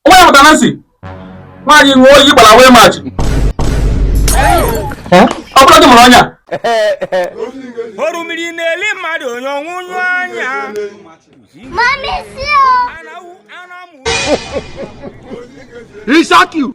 nwa ya pụtara si nwaanyị nwee ọyị gbara away match ọ bụrụ di mụrụ ọnya oru mmiri na-eli mmadụ onye ọnwụnyụ anya e shock you.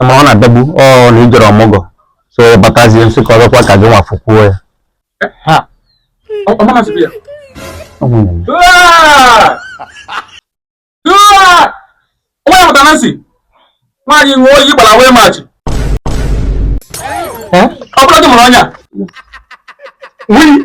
ma ọ na-adagbu ọ na i jere ọmụgọ so ya batazie nsị ka ọzọkwa ka gị nwa fụkwuo ya ha ọ ọ mama sịrị ya Ọ nwunye m. Aa! Aa! Onwe ya pụtara nsị nwaanyị nwee ọyị gbara away match Eh? ọ bụla di mụrụ ọnya Wii!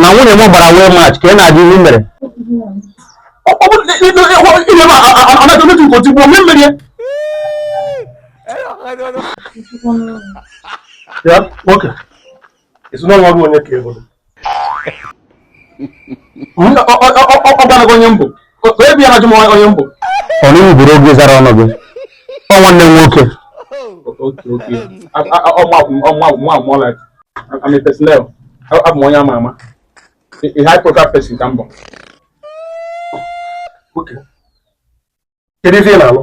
na nwunye m gbara away match ka ị na-adị ihe mere ya nwoke ezinụlọ ọrụ onye ka ị bụrụ ọ gbanago onye m bụ ebi ya m onye m bụ onye bụrụ gị zara ọnụ gị ọ nwanne m nwoke abụ m onye ama ama a high profile person ka m bụ kedu ife ị na-alụ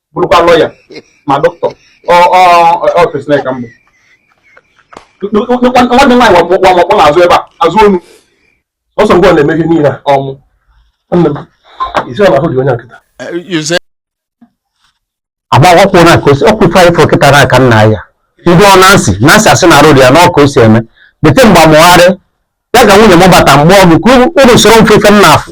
bụrụkwa lawyer ma doctor ọ personnel ka m bụ nwanne nwaanyị wakpọ na-azụ ebe a azụ onu ọsọ mgbe ọ na-eme ihe niile ọmụ nne m isi ọla ahụ dị onye nkịta agbawakwụ na ka o si ọkwụ ife anyị fụrụ kịta n'aka nna ya ndị ọ nansi nansi asị na arụ dị ya na ọ ka o si eme bete mgbe amụgharị ya ka nwunye m bata mgbe ọgụ ka uru usoro mfefe m na-afụ